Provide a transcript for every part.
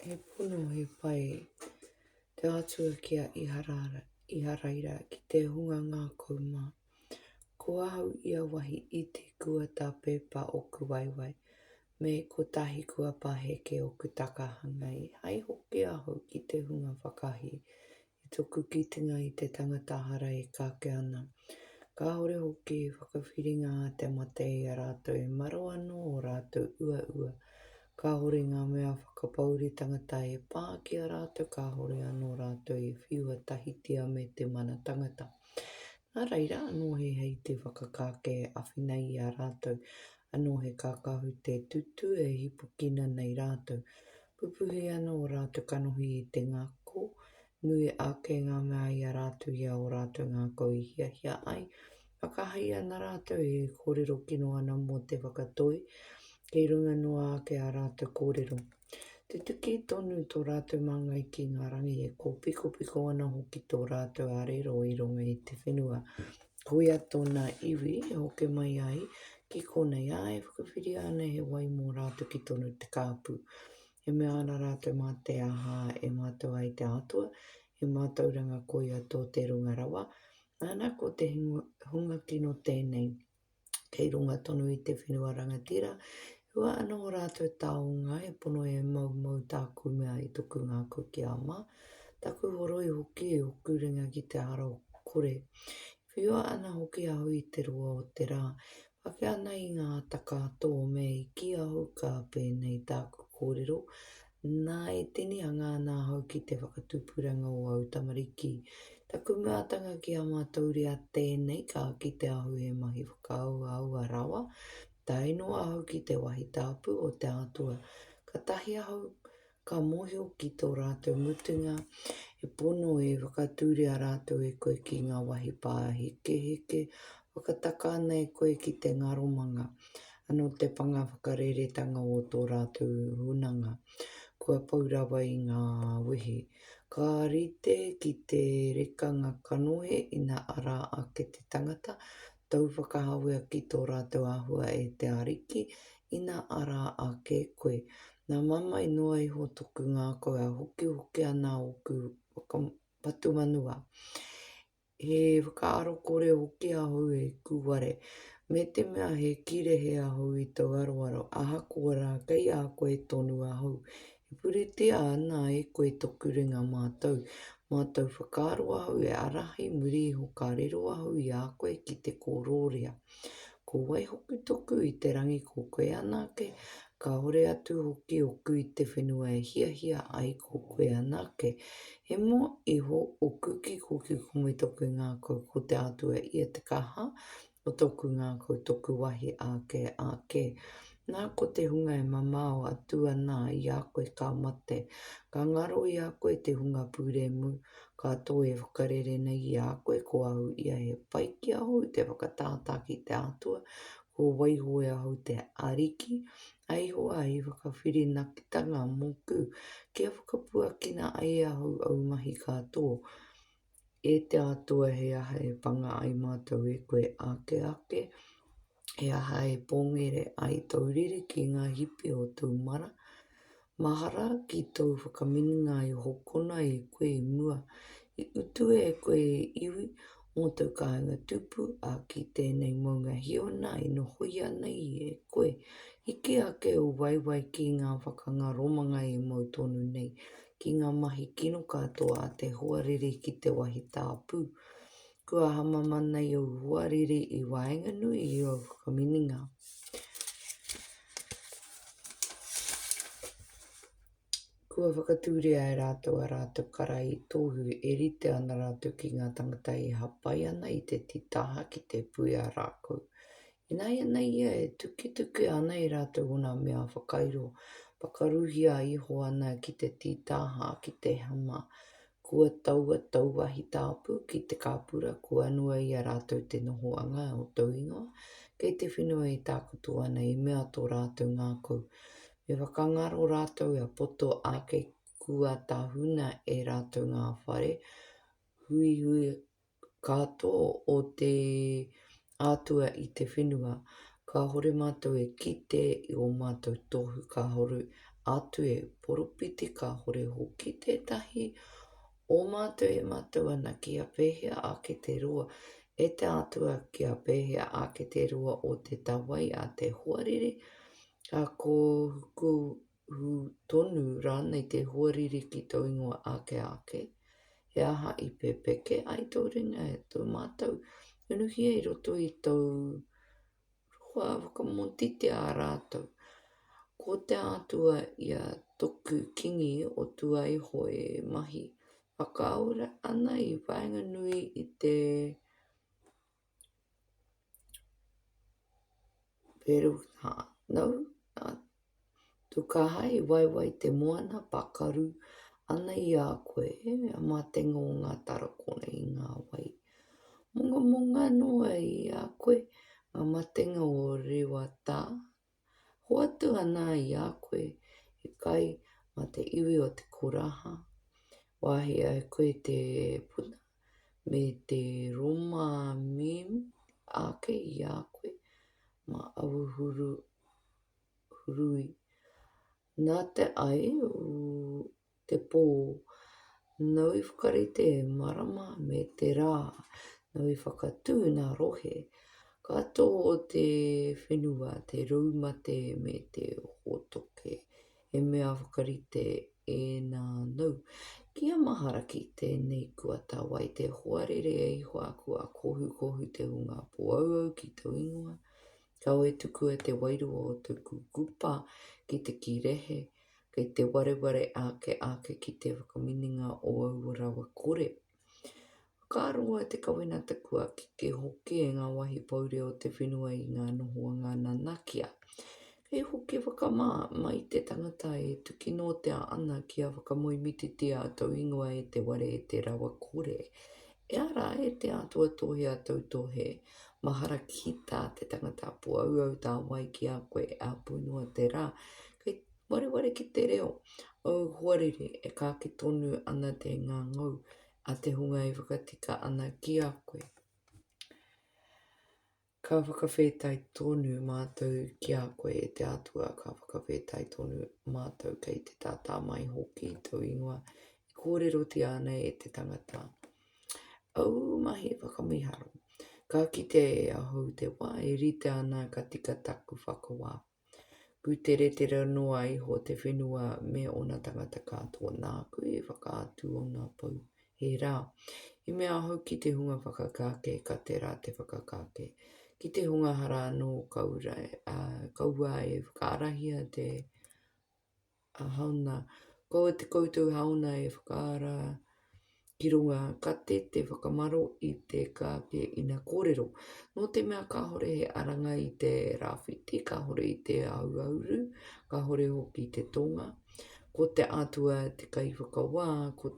He pono, he pai te Atua ki a Iharaira, ki te hunga ngākau mā. Ko ahau ia wahi iti kua tā pepa oku waewae, me kotahi kua paheke oku takahanga i hai hoki ahau ki te hunga whakahī, I toku kitenga i te tangata hara e kake ana, kāore hoki he whakawhiringa a te mate i a rātou e maro anō ō rātou uaua. Kāore ngā mea whakapouri tangata e pā ki a rātou kāore anō rātou e whiua tahitia me te mana tangata. Nā reira anō he hei te whakakāke e awhina i a rātou, anō he kākahu te tutū e hipukina nei rātou. Pupuhi ana ō rātou kanohi i te ngako, nui ake ngā mea i a rātou i a ō rātou ngākau i hiahia ai. Whakahei ana rātou e kōrero kino ana mō te whakatoi, kei runga noa ake ā rātou kōrero. Tutuki tonu tō rātou māngai ki ngā rangi, e kōpikopiko ana hoki tō rātou arero i runga i te whenua, Koia tōna iwi e hoke mai ai ki konei, ā, e whakawhiria ana he wai mō rātou ki tonu te kāpu. E mea ana rātou mā te aha e mātau ai te Atua, he mātauranga koia tō te Runga Rawa, nana ko te hunga kino tēnei. kei runga tonu i te whenua rangatira, hua ana o rātou taonga e pono e maumau tāku mea i toku ngākau ki a mā, taku horoi hoki i oku ringa ki te ara o kore. Whiua ana hoki au i te roa o te rā, whake ana i ngā taka tō me i kī au ka pēnei tāku kōrero, Nā, e tinihanga ana ahau ki te whakatupuranga o au tamariki. Taku meatanga ki a mātou ria tēnei, ka kite ahau he mahi whakaahuahua rawa. Tae noa ahau ki te wahi tāpu o te Atua, katahi ahau ka mohio ki tō rātou mutunga, he pono e whakatūria rātou e koe ki ngā wahi pāhekeheke, Whakataka ana e koe ki te ngaromanga anō te panga whakareretanga o tō rātou hunanga kua pau rawa i ngā wehi. Ka rite ki te rekanga kanohi ina ara ake te tangata, tau whakahawea ki tō rātou āhua e te Ariki ina ara ake koe. Nā mamae noa iho tōku ngākau a hokihoki ana ōku whakapatumanua He whakaaro kore hoki ahau e kūware, me te mea he kīrehe ahau i tōu aroaro, ahakoa rā, kei a koe tonu ahau. E puritia ana e koe toku ringa mātou, mā tōu whakaaro ahau e ārahi muri iho ka riro ahau i a koe ki te kōroria. Ko wai hoki toku i te rangi ko koe anake, kaore atu hoki oku i te whenua e hiahia ai ko koe anake. He mo iho oku ki koki ko me toku ngakau ko te Atua ia te kaha o toku ngakau toku wahi ake ake. Nā, ko te hunga e mamao atu ana i a koe ka mate, ka ngaro i a koe te hunga pūremu, ka toe e whakarere nei i a koe ko au ia he pai ki ahau te whakatātā ki te Atua, kua waiho e ahau te Ariki, a Ihowa hei whakawhirinakitanga mōku, kia whakapuakina ai ahau au mahi katoa, E te Atua, he aha e panga ai mātou e koe ake ake? He aha e pōngere ai tōu riri ki ngā hipi o tōu mara? Mahara ki tōu whakamininga i hokona e koe i mua, i utu e koe e iwi mō tōu kāinga tupu, ā, ki tēnei mounga hiona e nohoia nei e koe. Hiki ake u waewae ki ngā whakanga romanga e mau tonu nei, ki ngā mahi kino katoa a te hoariri ki te wahi tāpū. Kua hamama nei ōu hoariri i waenganui i ōu whakamininga. Kua whakatūria e rātou a rātou kara i tōhu e rite ana rātou ki ngā tangata i hapai ana i te titaha ki te pui a rākou. Ināianei ia e tuketuke ana i rātou ōna mea whakairo, pakaruhia iho ana ki te tītaha, ki te hama, kua taua tauwahi tāpu ki te kāpura, kua anua i a rātou te nohoanga o tōu ingoa, kei te whenua e tākutu ana, i mea tō rātou ngākau, me whakangaro rātou e poto ake kua tahuna e rātou ngā whare huihuinga, Ka tō o te Atua i te whenua, kāore mātou e kite i ō mātou tohu kāore atu e poropiti kāore hoki tētahi o mātou e mātou ana kia pēhea ake te roa, e te Atua kia pēhea ake te roa o te tawai a te hoariri, ka kōhuku hū tonu rānei te hoariri ki tō ingoa ake ake, he aha i pepeke ai tō ringa e tō mātou, unuhia i roto i tōu roa, whakamōtitia a rātou. Ko te Atua ia toku Kingi o Tuaiho e mahi whakaora ana i waenganui i te. Peruhānau, nā Tukāha i waiwai te moana pakaru ana i a koe, a Mātenga o ngā Tarakona i ngā wai. Mongamonga noa i a koe, ngā matenga o Rewatā, Hoatu ana i a koe he kai mā te iwi o te koraha, wāhi ai koe te puna me te roma mīm ake i a koe mā awu hurui. Nā te ai te pō, nau i whakarite marama me te rā, nau i whakatū ngā rohe katoa o te whenua, te roumate me te hōtoke, he mea whakarite ēnā nau. Kia mahara ki tēnei kuatawai te hoarere e Ihoāku a Kohukohu te hunga pōauau ki tōu ingoa, Kawe tukua te wairua o te kukupa ki te kīrehe, kei te wareware ake ake ki te whakamininga o aua rawa kore. Whakaaroa te kawenata kua keke hoki e ngā wāhi pouri o te whenua i ngā nohoanga nanakia. Kei hoki whakamā mai te tangata e tukinotea ana kia whakamoemititia tōu ingoa e te ware e te rawa kore, E ara e te Atua tohe a toutou he mahara ki ta te tangata apo auau ta wai ki a koe e apu noa te ra kei wareware ki te reo ou hoariri e kake tonu ana te ngangau a te hunga e whakatika ana ki a koe. Ka whakawhetai tonu mātou ki a koe e te Atua, ka whakawhetai tonu mātou kei te tātā mai hoki i tōu ingoa, e kōrerotia ana e te tangata ōu mahi whakamiharo. Ka kite e ahau te wā e rite ana ka tika taku whakawā, Pūteretera noa iho te whenua me ōna tangata katoa nāku i whakaatu ōna pou. He rā. I mea ahau ki te hunga whakakāke, ka tērā te whakakāke. Ki te hunga hara anō, kaua e whakaarahia te. Haona, Kaua te koutou haona e whakaara ki runga kate te whakamaro i te kāke ina kōrero. Nō te mea kāhore he aranga i te rāwhiti, kāhore i te auauru, kāhore hoki te tonga. Ko te Atua te kaiwhakawā, ko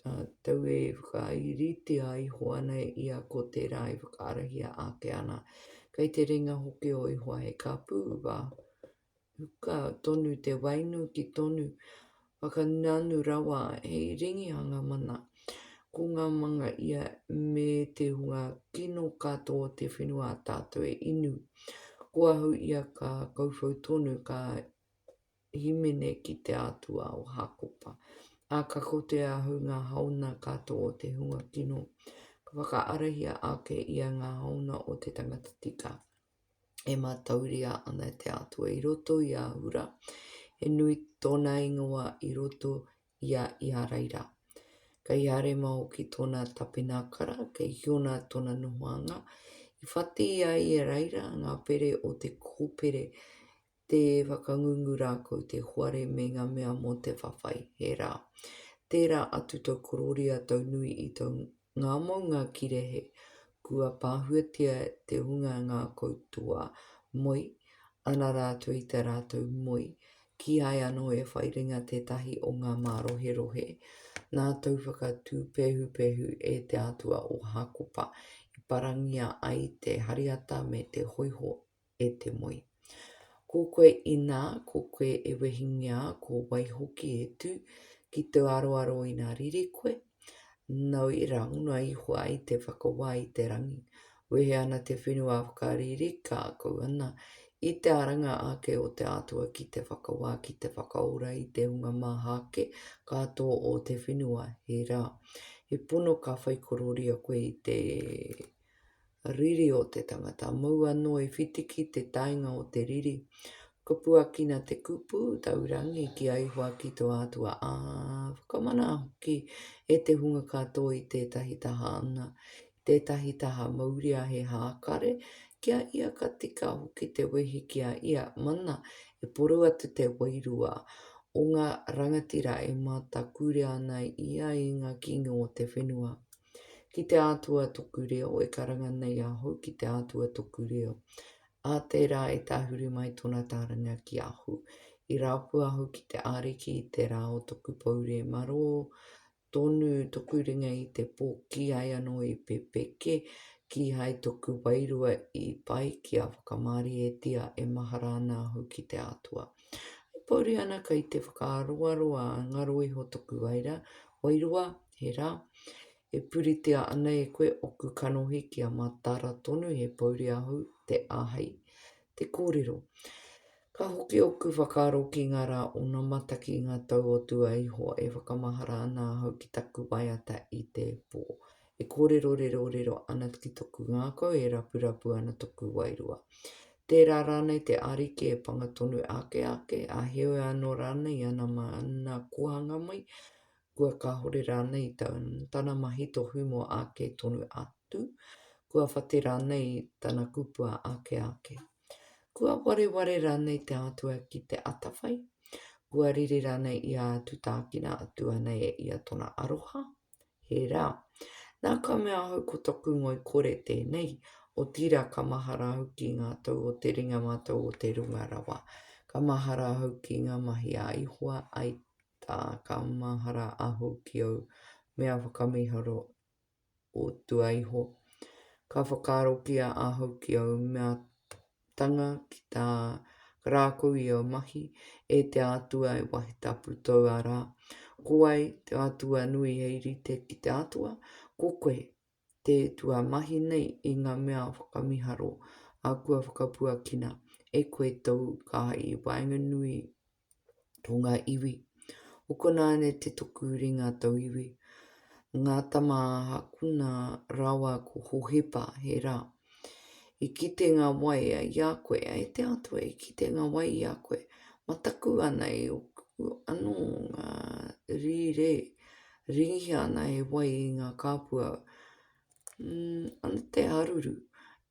uh, tau e whakairitia iho ana i a ko tērā e whakaarahia ake ana. Kei te ringa hoki o iho he kāpū, wā, huka tonu te wainu ki tonu whakananu rawa hei ringihanga mana. Ko ngā manga ia me te hunga kino katoa o te whenua a tātou e inu. Ko Ahu ia ka kauwhau tonu, ka himene ki te Atua o Hākopa, ā, ka kōtea Ahu ngā haona katoa o te hunga kino, ka whakaarahia ake ia ngā haona o te tangata tika. e mātauria ana e te Atua i roto i Ahura, he nui tōna ingoa i roto i a Iharaira. Kei Harema hoki tōna tapenākara, kei Hiona tōna nohoanga, i whati i a Iharaira ngā pere o te kōpere Te whakangungu rā ko te hoare me ngā mea mō te whawhai, he rā. Tērā atu tō korōria tau nui i tō ngā maunga kirehe, kua pāhuatia te hunga ngā koutoa moe, ana rātou i tā rātou moe, kīhai anō e whai ringa tētahi o ngā māroherohe. Nā tōu whakatū pēhupehu e te Atua o Hākopa i parangia ai te hariata me te hoiho e te moe. Ko koe inā ko koe e wehingia ko wai hoki e tū ki tō aroaro inā riri koe, nau i rāngu noa iho ai te whakawā i te rangi. Wehe ana te whenua whakariri kākau ana i te aranga ake o te Atua ki te whakawā ki te whakaora i te hunga maha ake katoa o te whenua, he rā, he pono ka whaikororia koe i te Riri o te tangata, mou anō i whitiki te taenga o te riri. Ka puakina te kupu, taurangi, ki a Ihoa ki tō Atua, ā, whakamana hoki e te hunga katoa i tētahi taha anga, i tētahi taha mauria he hākare, ki a ia ka tika hoki te wehi ki a ia, mana, e poro atu te wairua o ngā rangatira e mātakūrea ana i ia i ngā kīngi o te whenua. Ki te Atua toku reo e karanga nei ahau, ki te Atua toku reo. A tērā e tahuri mai tona tāringa ki ahu. I rapu ahau ki te Ariki i te rā o toku poure maro tonu toku ringa i te po kihai ano i pepeke, kihai toku wairua i pai kia whakamarietia e mahara ana ahau ki te Atua. E pouri ana kai te whakaaroaroa ngaro iho toku waira, wairua He rā, e puritia ana e koe oku kanohi kia mataara tonu he pouri ahu te ahei te kōrero. Ka hoki oku whakaaro ki ngā rā onamata ki ngā tau o tua iho e whakamahara ana ahau ki taku waiata i te pō. E kōrero rerorero ana ki toku ngākau e rapurapu ana toku wairua. Tērā rānei te Ariki e panga tonu ake ake, a heoi anō rānei i ana mana kōhanga mai, Kua kāore rānei tana mahi tohu mō āke tonu atu? Kua whate rānei tana kupua āke āke? Kua wareware rānei te Atua ki te atawhai? Kua rere rānei i a atu tākina atu ana e ia tona aroha? He rā. Nā ka mea ahau ko toku ngoikore tēnei, otirā ka mahara ahau ki ngā tau o te ringa mātau o te runga rawa. Ka mahara ahau ki ngā mahi a Ihowa, ai, tā ka mahara ahu ki ōu mea whakamiharo o tua iho. Ka whakaarokia ahau ki ōu mea tanga ki tā Karākou i ōu mahi, e te Atua e wahi tapu tou ara. Ko wai te Atua nui hei rite ki te Atua? Ko koe, te tua mahi nei i ngā mea whakamiharo a kua whakapuakina e koe tou kāi i waenganui o ngā iwi. Hokona ana te toku ringa tauiwi, ngā tama a Hakuna rawa ko Hohepa, he rā, I kite ngā waea i a koe, e te Atua, i kite ngā waea i a koe, mataku ana i oku anō ngā rīrē, ringihia ana he wai i ngā kāpua, mm, ana te haruru,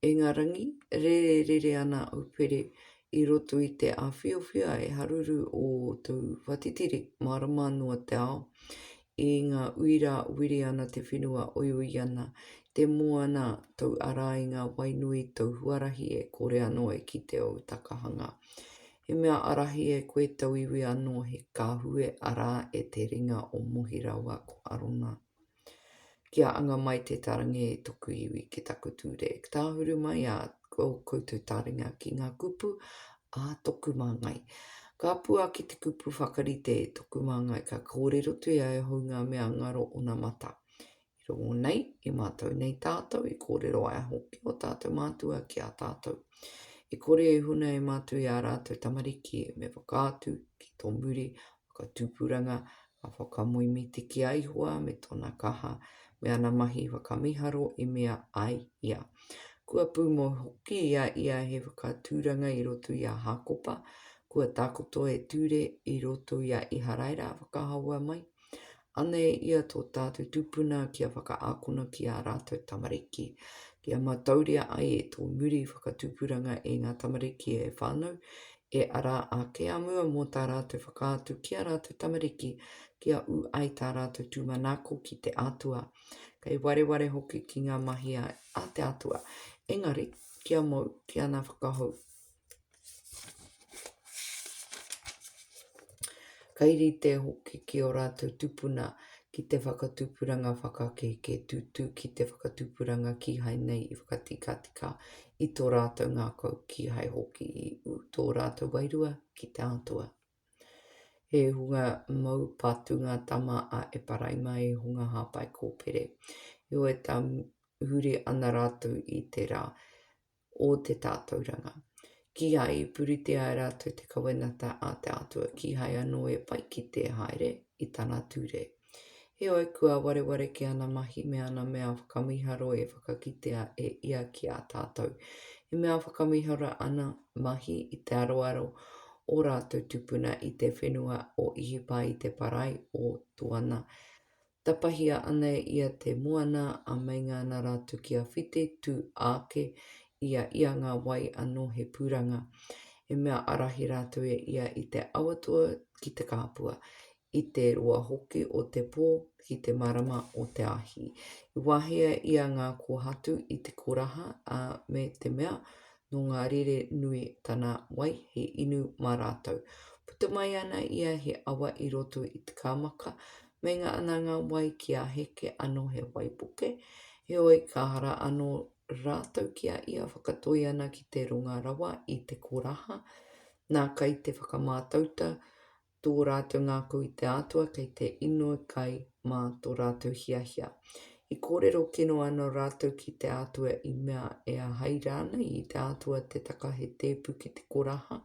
e ngā rangi, rererere ana au pere, i roto i te āwhiowhio e haruru o tōu whatitiri, mārama noa te ao, I ngā uira wiri ana te whenua oioi ana te moana tou ara i ngā wai nui tou huarahi e kore anō e kite ou takahanga. He mea arahi e koe tauiwi anō he kahue ara e te ringa o Mohi raua ko Arona. Kia anga mai te tarange e toku iwi ki taku ture. Tāhuru mai a koutou taringa ki ngā kupu a toku māngai. Ka puaki te kupu whakarite e toku māngai, ka kōrero te ia e hou ngā mea ngaro ona mata. I rongo nei, i mātau nei tātau, i kōrero ai hoki o tātau mātua ki a tātau. E kore e huna e mātau i a rātau tamariki, me whakaatu ki tō muri Ka tupuranga, ka whakamoe mīti ki a Ihoa me tona kaha, me ana mahi whakamiharo i mea ai ia. Kua pumoe hoki i a ia he whakaaturanga i roto i a Hakopa, kua takoto e Ture i roto i a Iharaira whakahaua mai, Anei ia tō tātou tupuna kia whakaakona ki ā rātou tamariki. Kia matauria ai e tō muri whakatupuranga e ngā tamariki e whānau, e ara ake a mua mō tā rātou whakaatu ki ā rātou tamariki kia ū ai tā rātou tūmanako ki te Atua, kei wareware hoki ki ngā mahi a te Atua, engari kia mau, kia ana whakahou. Kai rite hoki ki ō rātou tupuna ki te whakatupuranga whakakēkē tūtū ki te whakatupuranga kīhai nei i whakatikatika i tō rātou ngākau kīhai hoki i ū tō rātou wairua ki te Atua. He hunga mau patu ngā tama a Eparaima i hunga hāpai kōpere. Heoi tā huri ana rātou i te rā, o te tātauranga. Kīhai i puritia e rātou te kawenata a te Atua, kīhai anō e whai kite haere i Tana ture. Heoi, kua wareware ki Ana mahi me Ana mea whakamiharo e whakakitea e Ia ki a tātou. He mea whakamiharo Ana mahi i te aroaro o rātou tupuna i te whenua o Ihipa i te parai o Tuana, Tapahia ana e ia te moana a Meinga ana ra tu ki a White, tu aake i a ia nga wai ano he puranga. E mea arahi ratou e ia i te awa toa ki te kapua, i te roa hoki o te po ki te marama o te ahi. I wahea ia nga kohatu i te koraha, a me te mea no nga rere nui tana wai he inu ma ratou. Puta mai ana ia he awa i roto i te kamaka, Meinga ana ngā wai ki a Heke anō he wai puke, heoi ka hara anō rātou ki a ia whakatoi ana ki te runga rawa i te koraha. Nā, kei te whakamātauta tō rātou ngākau i te Atua kei te inoi kai mā tō rātou hiahia. I kōrero kino ana rātou ki te Atua i mea e ahai rānei i te Atua te taka he tēpu ki te koraha,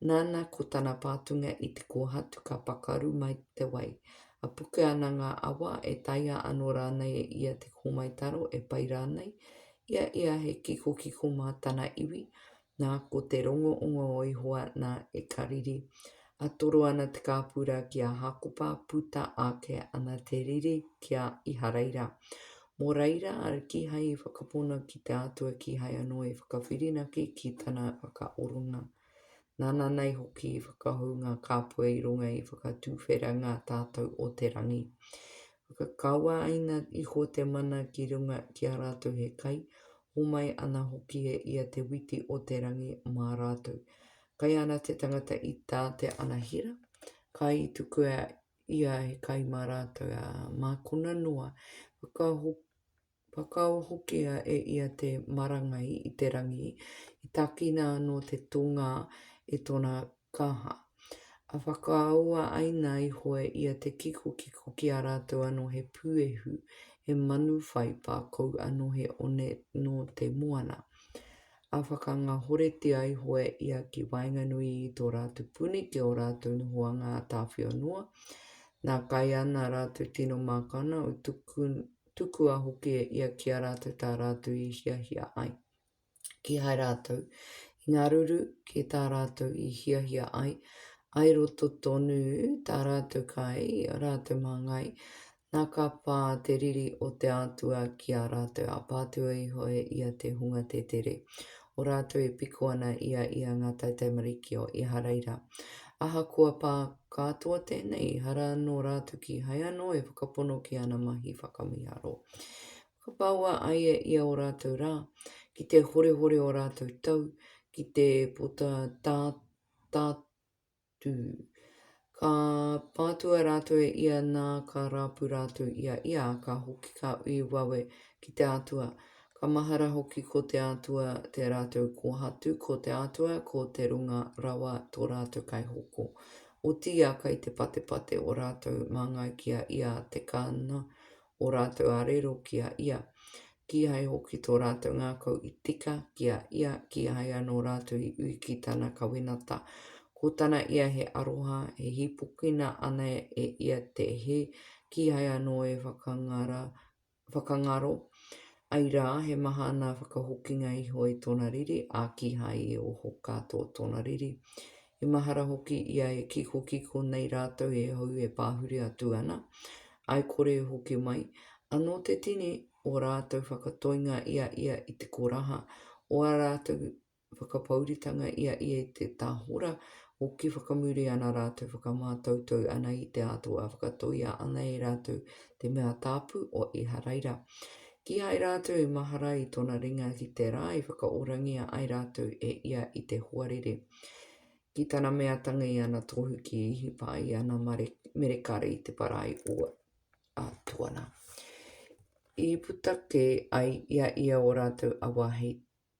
Nana ko tana pātunga i te kōhatu ka pakaru mai te wai. A puke ana ngā awa, e taea ano rānei e ia te hōmai taro, e pai rānei? I a ia he kikokiko mā tana iwi, nā ko te rongoongo o Ihowa nā e kariri. A toro ana te kāpura ki a Hākopa, puta ake ana te riri ki a Iharaira. Mō reira a kihai i whakapono ki te Atua kihai ano i whakawhirinaki ki tana whakaoronga. Nāna nei hoki i whakahou ngā kāpua i runga i whakatuwhera ngā tātou o te rangi. Whakakaua aina iho te mana ki runga ki a rātou he kai, homai ana hoki e ia te witi o te rangi mā rātou. Kai ana te tangata i tā te anahera, ka i tukua ia he kai mā rātou, ā, mākona noa, whakahokia Whakao hokia e ia te marangai i te rangi, i takina anō te tōngā e tōna kaha. A whakaoa aina iho e ia te kikokiko ki a rātou anō he puehu, he manu whai pākou anō he one nō te moana. A whakangahoretia iho e ia ki waenganui i tō rātou puni ki ō rātou nohoanga ā-tāwhiao noa, nā kai ana rātou tino mākana o tuku Tukua hoki e ia ki a rātou tā rātou i hiahia ai. Kīhai rātou i ngaruru ki tā rātou i hiahia ai, ai roto tonu tā rātou kai i a rātou māngai, nā ka pā te riri o te Atua ki a rātou, a pātua iho e ia te hunga te tere o rātou e piko ana i a ia ngā taitaimariki o Iharaira. Ahakoa pā katoa tēnei, ehara anō rātou kīhai anō e whakapono ki ana mahi whakamīharo. Whakapaua ai e ia o rātou rā, ki te horehore o rātou tau, ki te pota tā, tā, tū. Ka patua rātou e ia nā ka rapu rātou i a ia, ka hoki kā ui wawe ki te Atua. Ka mahara hoki ko te Atua te rātou kōhatu, ko te Atua, ko te Runga Rawa tō rātou Kaihoko. Otiia kai te patepate o rātou māngai ki a ia te kāna ō rātou arero ki a Ia, kīhai hoki tō rātou ngākau i tika ki a Ia, kīhai anō rātou i ui ki Tana kawenata. Ko Tana ia he aroha, e hīpokina ana e Ia te hē, kīhai anō e whakangara, whakangaro, āi rā, he maha ana whakahokinga iho i Tōna riri, ā, kīhai i oho katoa Tōna riri. He mahara hoki ia e kikokiko nei rātou he hou e pāhuri atu ana, āe kore e hoki mai, anō te tini ō rātou whakatoinga i a ia i te koraha, ō ā rātou whakapouritanga i a ia i te tahora, hoki whakamuri ana rātou whakamātautau ana i te Atua, whakatoia ana e rātou te mea tāpu o Iharaira. Kīhai rātou i mahara i tōna ringa ki te rā i whakaorangia ai rātou e ia i te hoariri. Ki tana mea tangi i ana tohu ki Hipa i ana merekare i te parai o a Tuana. I puta ke ai ia ia o rātou awa hei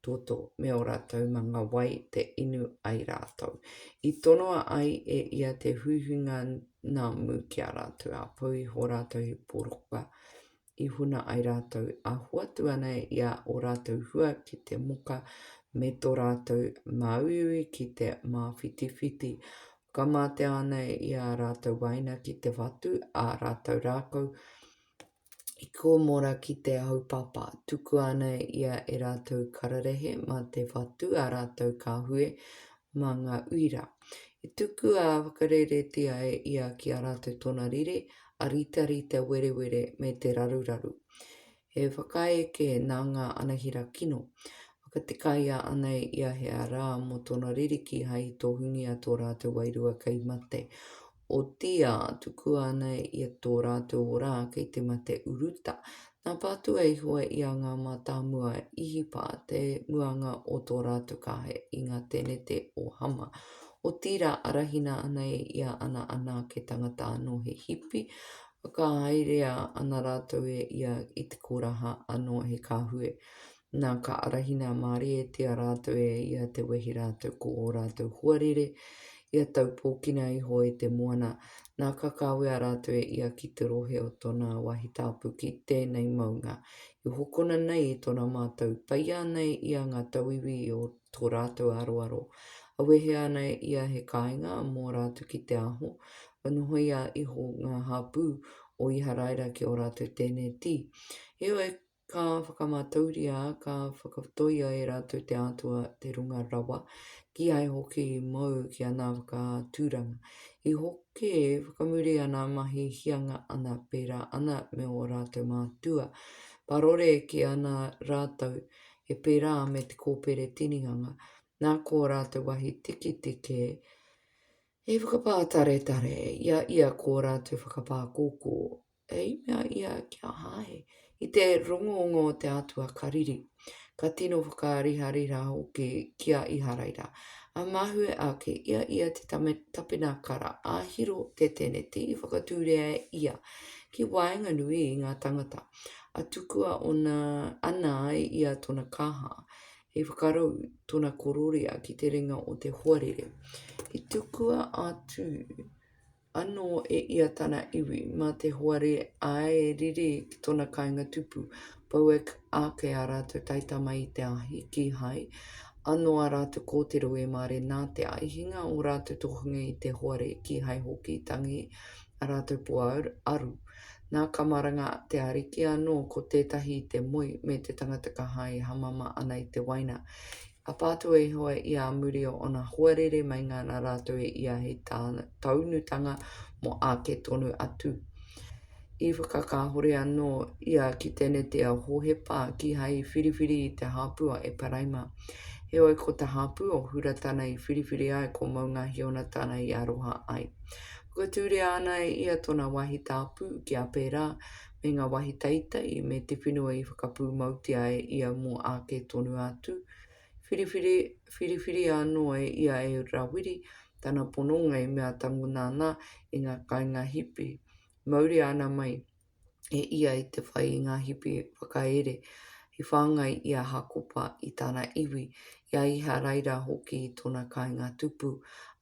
toto me o rātou manga wai te inu ai rātou. I tonoa ai e ia te huihuinga nā mū ki a rātou a pau i ho rātou he poroka i huna ai rātou a hoatu ana i a o rātou hua ki te moka me to rātou māuiui ki te māwhitiwhiti. Whakamātea ana i a rātou waina ki te whatu a rātou rākau i kōmora ki te haupapa. Tuku ana ia e rātou kararehe mā te whatu a rātou kāhue mā ngā uira. I tuku a whakareretia e ia ki a rātou tōna riri, āritarita werewere me te raruraru. He whakaeke nā ngā anahera kino, whakatikaia ana i a hea rā mō tōna ririki hai tohungia tō rātou wairua kei mate, otīā tukua ana i tō rātou orā kei te mate uruta, Nā Pātua i hoe i a ngā mātāmua Īhipa te muanga o tō rātou kāhe i ngā tēnete o Hama, otirā arahina ana e ia ana anake tangata anō he hipi, whakahaerea ana rātou e ia i te koraha anō he kāhue. Nā, ka arahina a Marietia rātou e ia te wehi rātou ko ō rātou huarere, ia taupōkina iho e te moana, nā, ka kawea rātou e ia ki te rohe o tōna wahi tāpu ki tēnei maunga, i hokona nei i tōna mātau, peia ana e ia ngā tauiwi o tō rātou aroaro, a wehe ana e ia he kāinga mō rātou ki te aho, kua nohoia iho ngā hapū o Iharaira ki ō rātou tēneti. Heoi, Ka whakamātauria, ka whakatoia e rātou te Atua, te Runga Rawa, kīhai hoki i mau ki ana whakaaturanga. I hoke whakamuri ana mahi hianga ana, pērā ana me ō rātou mātua. Parore ki ana rātou, he pērā me te kōpere tinihanga, nā kō rātou wahi tiketike he whakapātaretare i a ia kō rātou whakapākōkō. I mea ia ki a Hahe, I te rongongo o te Atua ka riri, ka tino whakaarihariha hoki ki a Iharaira. A mahue ake i a ia te tapenakara, a Hiro te teneti i whakatūria e ia ki waenganui i ngā tangata, a tukua ona, ana ai ia tona kaha, i whakarou tona kororia ki te ringa o te hoariri. I tukua atu. Anō e ia tana iwi, mā te hoare a e riri ki tōna kāinga tupu, Boak ake ā rātou taitama i te ahi, kīhai anō ā rātou kōtiro e mare nā te ai, hinga ō rātou tohunga i te hoare, kīhai hoki tangi ā rātou po aru. Nā ka maranga te Ariki anō ko tētahi i te moe me te tangata ka hae hamama ana i te waina, Apa atu e Ihowa i ā muri o ōna hoarere meinga nā rātou e ia hei taunutanga mō āke tonu atu. I whakakāhore anō ia ki te nete a Hōhepa kīhai whiriwhiri i te hāpu a Eparaima. Heoi ko te hāpu o Hura tana i whiriwhiri ai ko Moungahiona tana i aroha ai. Whakatūria ana e ia tōna wāhi tāpu ki a pērā me ngā wāhi teitei me te whenua i whakapūmautia e ia mō āke tonu atu, whiriwhiri, whiriwhiri anō e ia e Rawiri tana pononga i mea tango nāna i ngā kāinga hipi. Mauria ana mai e ia i te whai i ngā hipi whakaere i whāngai i a Hakopa i tana iwi, i a Iharaira hoki i tona kainga tupu,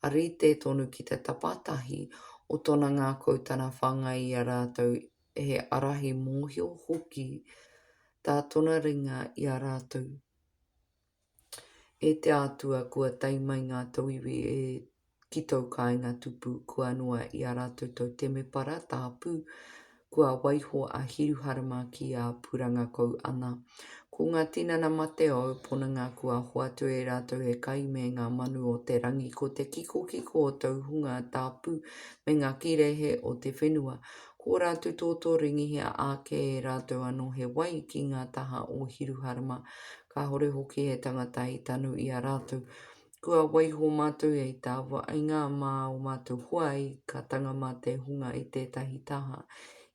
a rite tonu ki te tapatahi o tona ngakau tana whangai i a ratou he arahi mohio hoki ta tona ringa i a ratou. E te Atua kua tae mai nga tauiwi e ki tōu kāinga tupu kua noa i a rātou tōu temepara tāpū, kua waiho a Hiruharama ki a Purangakou ana. Ko ngā tinana mate o ōu ponanga kua hoatu e rātou he kai me ngā manu o te rangi ko te kikokiko o tōu hunga tāpū me ngā kīrehe o te whenua, ko ō rātou tōtō ringihia āke e rātou anō he wai ki ngā taha o Hiruharama, kāore hoki he tangata i tanu i a rātou. kua waiho mātou hei tāwainga mā o mātou hoa i ka tanga mā te hunga i tētahi taha,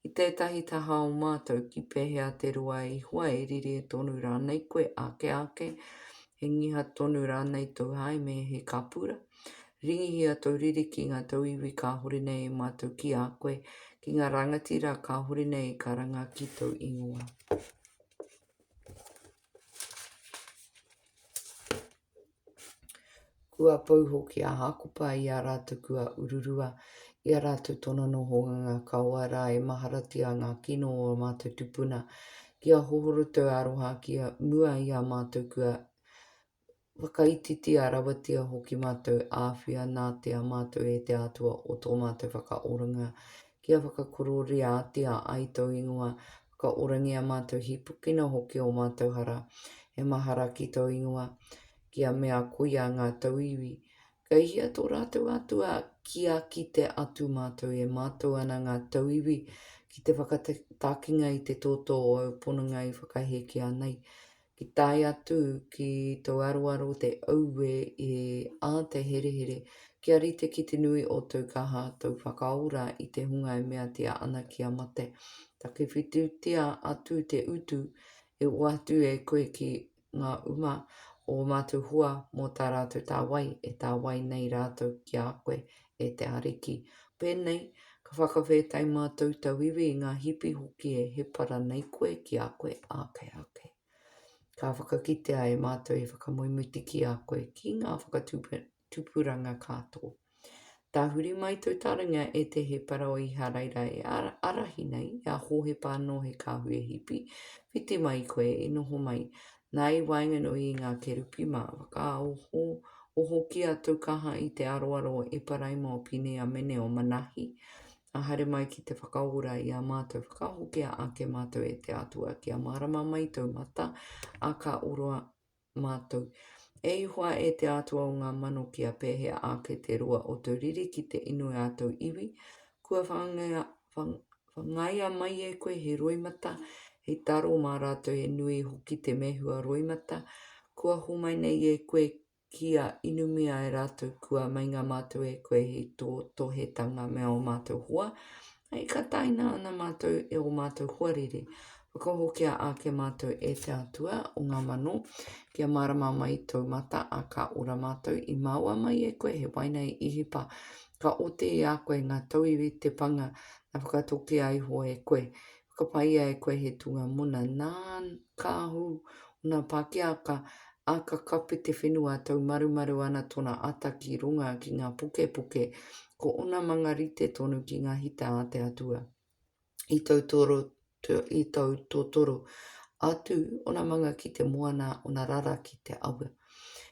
i tētahi taha o mātou, ki pēhea te roa i hoa e rire tonu rānei koe ake ake, he ngiha tonu rānei tou haeme, he kapura? Ringihia tou riri ki ngā tauiwi kāhore nei e mātou ki a koe, ki ngā rangatira kāhore nei ka ranga ki tou ingoa. Kua pau hoki a Hākopa i a rātou kua ururua i a rātou tono noho ngā kawa rā e maharatia ngā kino o a mātou tupuna ki a hohorotou aroha ki a mua i a mātou kua whakaititia rawatia hoki mātou āwhia nā te a mātou e te Atua o tō mātou whakaoranga kia whakakororeatia ai tō ingoa Ka orangia mātou hīpukina hoki o mātou hara, he mahara ki tō ingoa, ki a mea koia ngā tauiwi. Kei hia tō rātou Atua kia kite atu mātou e mātau ana ngā tauiwi ki te whakatakinga i te tōtō o au pononga i whakahēkea nei? Ki tae atu ki tou aroaro te auē i a te herehere kia rite ki te nui o tou kaha tou whakaora i te hunga e meatia ana kia mate. Takiwhitutia atu te utu e ua atu e koe ki nga uma o o matou hoa mo ta ratou tawai e tawai nei ratou ki a koe e te Ariki. Pēnei, ka whakawhētai mātou tauiwi i ngā hipi hoki e he para nei koe ki a koe ake ake. Ka whakakitea e mātou e whakamoemuti ki a koe ki ngā whakatupuranga kā tō. Tāhuri mai tō taringa e te he para o Iharaira e arahi nei i a Hōhepa anō he kāhui e hipi, whiti mai koe i noho mai, Nā, i waenganui i ngā kerupi mā, whakaoho, oho ki a Taukaha i te aroaro o Eparaima, o Pine, a Mene, o Manahi, a haere mai ki te whakaora i a mātou, whakahokia ake mātou e te Atua, kia mārama mai tōu mata, ā, ka oroa mātou. E Ihowa, e te Atua o ngā mano, kia pēhea ake te roa o tōu riri ki te inu i ā tōu iwi, kua whangaia, whang, Whangaia mai e koe he roimata, he taro mā rātou he nui hoki te mehua roimata, kua homai nei e koe kia inumia e rātou kua meinga mātou e koe he tō tohetanga me ō mātou hoa, hei ka taina ana mātou e ō mātou hoariri, Whakahokia ake mātou e te Atua o ngā mano, kia mārama mai tōu mata, a ka ora mātou, i māua mai e koe he waina i Ihipa, ka oti i a koe ngā tauiwi te panga, na whakatokia iho e koe, whakapaia e koe he tūnga mona, nā, ka ahu ōna pākiaka, a ka kapi te whenua, tau marumaru ana tōna ata ki runga ki ngā pokepoke, ko ōna manga rite tonu ki ngā hita a te Atua. i tautotoro atu ōna manga ki te moana, ōna rara ki te awa.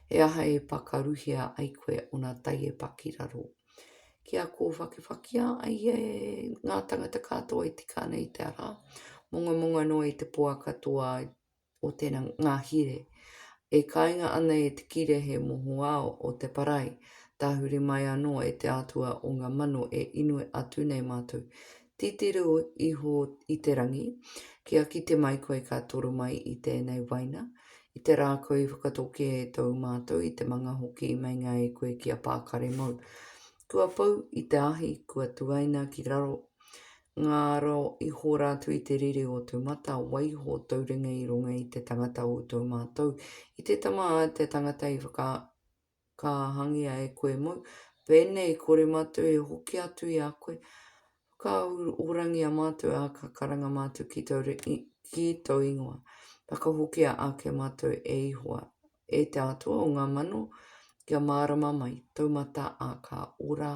He aha e pakaruhia ai koe ōna tai e pa ki raro? Kia kōwhakewhakea ai e ngā tangata katoa e tika ana i te ara, mongamonga noa i te poaka toa o te ngahire, e kainga ana e te kire he mohoao o te parai, tahuri mai anō e te Atua o ngā mano e inoi atu nei mātou. Titiro iho i te rangi, kia kite mai koe ka toro mai i tēnei waina, i te rā koe i whakatoke e tōu mātou i te manga hoki i meinga e koe ki a pākare mōu. Kua pau i te ahi, kua tuaina ki raro, Ngaro, i hora atu i te riri o tu mata, waiho tou ringa i runga i te tangata o tou matou, i te tama a te tangata i whakakahangia e koe mou, penei, kore matou e hoki atu i a koe, whakaahurangia matou, a ka karanga matou ki tou ringa, ki tou ingoa, whakahokia ake matou e Ihowa, e te Atua o nga mano, kia marama mai tou mata a ka ora